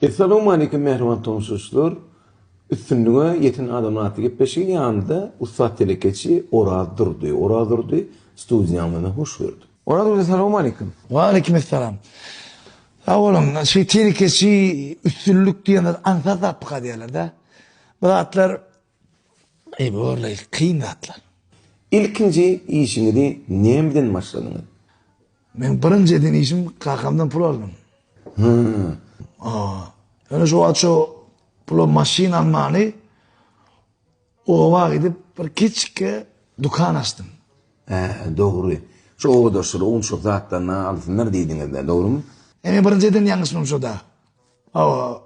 Essalowmaleýkim mähriban tomushaçlar! Üstünlige ýeten adamlar atly gepleşigi ýanymda ussat telekeçi Oraz Durdy. Oraz Durdy studiýa mene hoş geldi. Oraz Durdy salowmaleýkim! Waleýkimessalam! Sag boluň! Şu telekeçi üstünlik diýen zat aňsat zat pyka diýerler-dä. Bu zatlar Eý borly kyn zatlar. Ilkinji işiňizi näme bilen başladyňyz? Meň birinji eden işim kakamdan pul aldym. Hä. Aa. Ýöne şo wagt şo pula maşyn almany oba gidip bir kiçikge dukan açdym. Hä, dogry. Şo obadaşlar ownuşyk zatlaryny alsynlar diýdiňizde, dogrymy? Ene birinji eden ýalňyşymam şo-da. Hawa.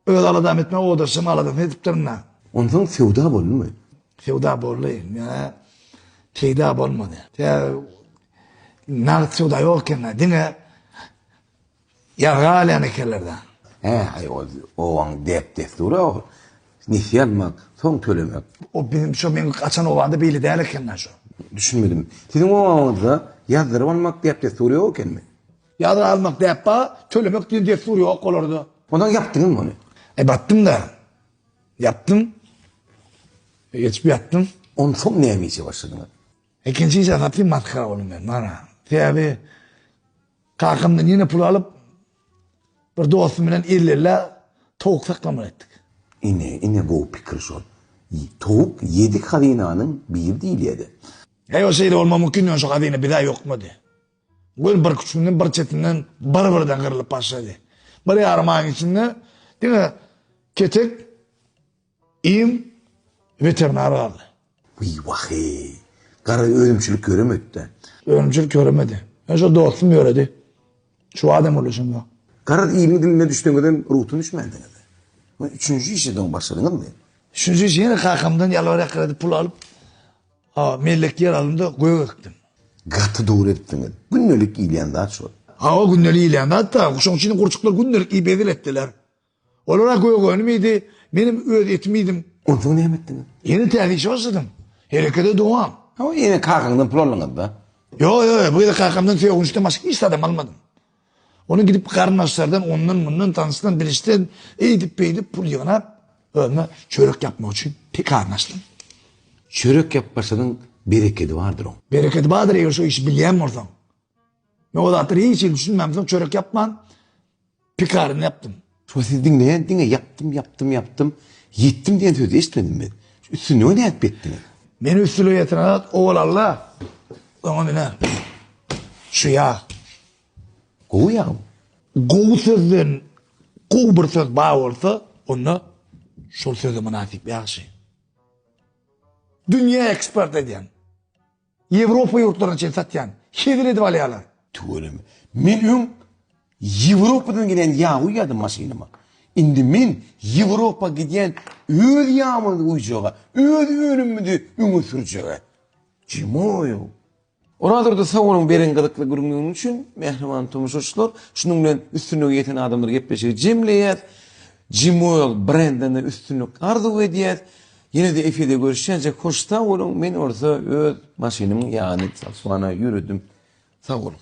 Öz aladam etme odaşym aladasyny edipdirin-a. Onsoň söwda boldumy? Söwda boldy. Ýöne peýda bolmady. Tä nagt söwda ýok eken-dä. Diňe ýarga alýan ekenler-dä. Hä, aý ol obaň däp-dessury ol. Nesýe almak, soň tölemek. O biziň şo meň gaçan obamda beýle däl eken-dä şo. Düşünmedim. Siziň obaňyzda ýazdyryp almak däp-dessury ýok ekenmi? Ýazga almak däp ba, tölemek diýen dessur ýok olarda. Onsoň ýapdyňyzmy ony? E, batdym-da. Ýapdym. Geçip ýatdym. Onsoň näme işe başladyňyz? Ikinji işe gaty masgara boldum men, mana. Sebäbi kakamdan ýene pul alyp, bir dostum bilen elli ellä towuk saklamaly etdik. Ine, ine gowy pikir şol. Towuk ýedi hazynanyň biri diýilýär-de. Ýok, şeýle bolmagy mümkin däl, şu hazyna bir-ä ýokmady. Göl bir küçünden bir çetinden bir-birden gyrlyp başlady. Bir ýarym aýyň içinde diňe Ketek im weterinar galdy. Wiý wahe! Gara önümçilik ýöremedi-dä. Önümçilik ýöremedi. Ýöne şo dostum ýöredi. Şu wagt hem uluşym ýok. Gara imiň diline düşseňizem rugsat düşmändiňiz-dä. Üçünji işe soň başladyňyzmy? Üçünji işe ýene kakamdan ýalbaryp-ýakyrap pul alyp. A. Mellek ýer alymda gök ekdim. Gaty dogry edipsiňiz. Gündelik iýilýän zat şol. Hawa, gündelik iýilýän zat-da. Şoň üçin gurçuklar gündelik iýip hezil etdiler. Olar-a gök önüm iýdi, menem öz etimi iýdim. Onsoň näme etdiňiz? Ýene täze işe başladym. Herekete dowam. Hawa, ýene kakaňdan pul aldyňyz-da? Ýok, ýok, bu gezek kakamdan sögünçden başga hiç zadam almadym. Ony gidip garyndaşlardan ondan-mundan tanyşdan bilişden eýdip-beýdip pul ýygnap, özüme çörek ýapmak üçin pekar başladym. Çörek ýapmaşynyň berekedi bardyr oň. Berekedi bardyr eger şo işi bilýän bolsaň. Men o zatlara hiç hili düşünmämsoň çörek ýapman pekaryny ýapdym. Şo siz diňleýän diňe ýapdym ýapdym ýapdym ýetdim diýen sözi eşitmedim men. Şu üstünlige nädip ýetdiňiz? Men üstülige ýeten zat owal Alla oňa münen. Şu ýag. Gowy ýagmy? Gowy sözden gowy bir söz bar bolsa onda şol söze mynasyp ýagşy. Dünýä eksport edýän. Ýewropa ýurtlaryna çen satýan. Hezil edip alýalar. Tüweleme. Men öň Ýewropadan gelen ýag guýýardym maşynyma. Indi men Ýewropa gidýän öz ýagymyzy guýjaga, öz önümimizi öňe sürjege. Jimoýow. Orazurdy sag boluň beren gyzykly gürrüňiňiz üçin mähriban tomaşaçylar. Şunuň bilen üstünlige ýeten adamlar gepleşigi jemleýäs. Jimoýow brendine üstünlik arzuw edýäs. Ýene-de efirde görüşýänçäk hoş sag boluň men bolsa öz maşynymyň ýany Sakswana ýöredim sag boluň.